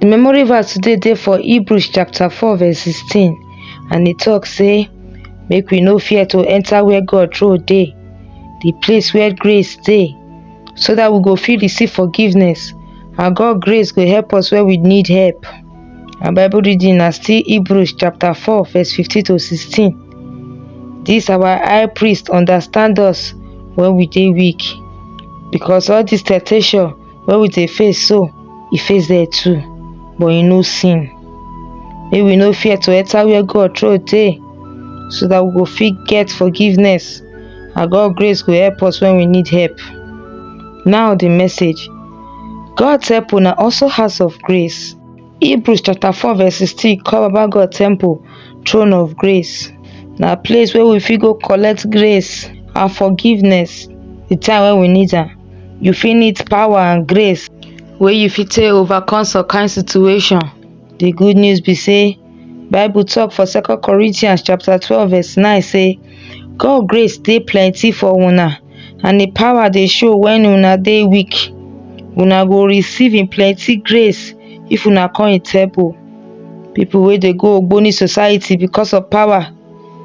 Di memory verse today dey for Hebrews chapter 4 verse 16 and e talk say make we no fear to enter where God throne dey, the place where grace dey so that we go fit receive forgiveness and God grace go help us where we need help. Our Bible reading na still Hebrews chapter 4 verse 15 to 16. This our high priest understand us when we dey weak because all this temptation Well with a face so, e face there too, but e no sin. Make we no fear to enter where God throw dey so that we go fit get forgiveness and God grace go help us when we need help. Now the message. God help una also house of grace. Hebrews chapter 4 verse 16 call Baba God temple throne of grace. Na place where we fit go collect grace and forgiveness the time when we need am. You fit need power and grace wey you fit take overcome some kind situation. The good news be say Bible talk for second Corinthians chapter 12 verse 9 say God grace dey plenty for una and im power dey show wen una dey weak una go receive im plenty grace if una come im temple people wey dey go ogboni society because of power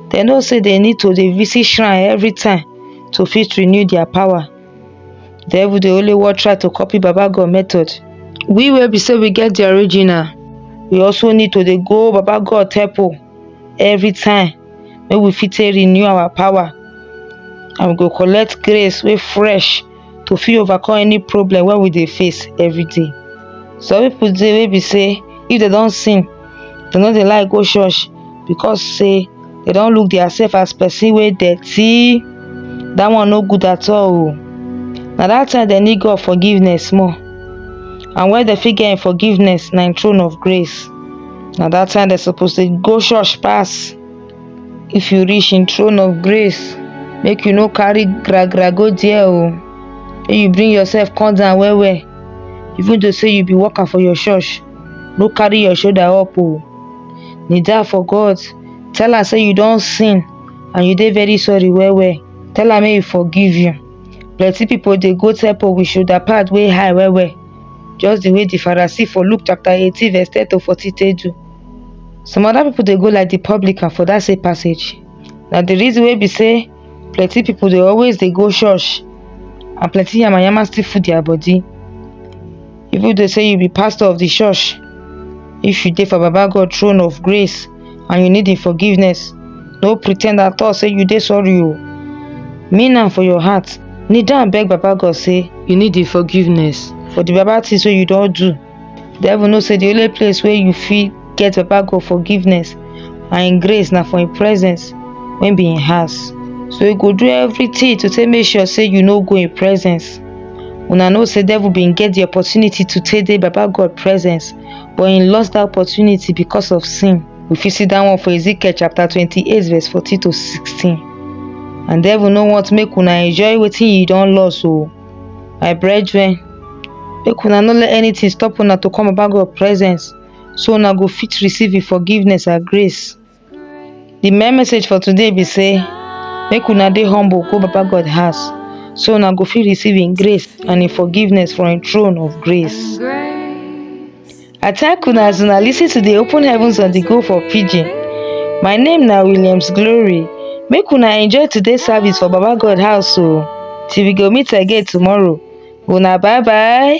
dem know say dem need to dey visit shrine every time to fit renew their power devil dey only wan try to copy baba God method we wey be say we get the original we also need to dey go baba God temple every time wey we fit take renew our power and we go collect grace wey fresh to fit overcome any problem wey we dey face every day some people dey wey be say if dem don sin dem no dey like go church because say dem don look their self as person wey dirty that one no good at all o na that time dem need God forgiveness more and where dem fit get im forgiveness na im throne of grace na that time dem suppose dey go church pass if you reach him throne of grace make you no carry gra gra go there o make you bring yourself come down well well even though say you be worker for your church no carry your shoulder up o kneel down for god tell am say you don sin and you dey very sorry well well tell am make he forgive you plenty people dey go temple with shoulder pad wey high well well just the way the Pharisee for Luke chapter 18 verse 10 to 40 take do. Some other people dey go like the publican for that same passage. Na the reason wey be say plenty people dey always dey go church and plenty yamayama still full their body. Even though say you be pastor of the church, if you dey for Baba God throne of grace, and you need im forgiveness no pretend at all say you dey sorry o mean am for your heart kneel down beg baba god say you need im forgiveness for the baba things wey you don do the devil know say the only place wey you fit get baba god forgiveness and im grace na for im presence wey be im house so you go do everything to take make sure say you no go im presence una know say devil bin get the opportunity to take dey baba god presence but he lost that opportunity because of sin. We fit see that one for Ezekiel chapter 28 verse 14 to 16. And devil no want make una enjoy wetin you don loss o. My brethren, make una no let anything stop una to come about God presence so una go fit receive him forgiveness and grace. the main message for today be say make una dey humble go baba god house so una go fit receive him grace and him forgiveness from him throne of grace i thank una as una lis ten to the open heavens on the go for pidgin my name na williams glory make una enjoy today's service for baba god house o till we go meet again tomorrow una bye bye.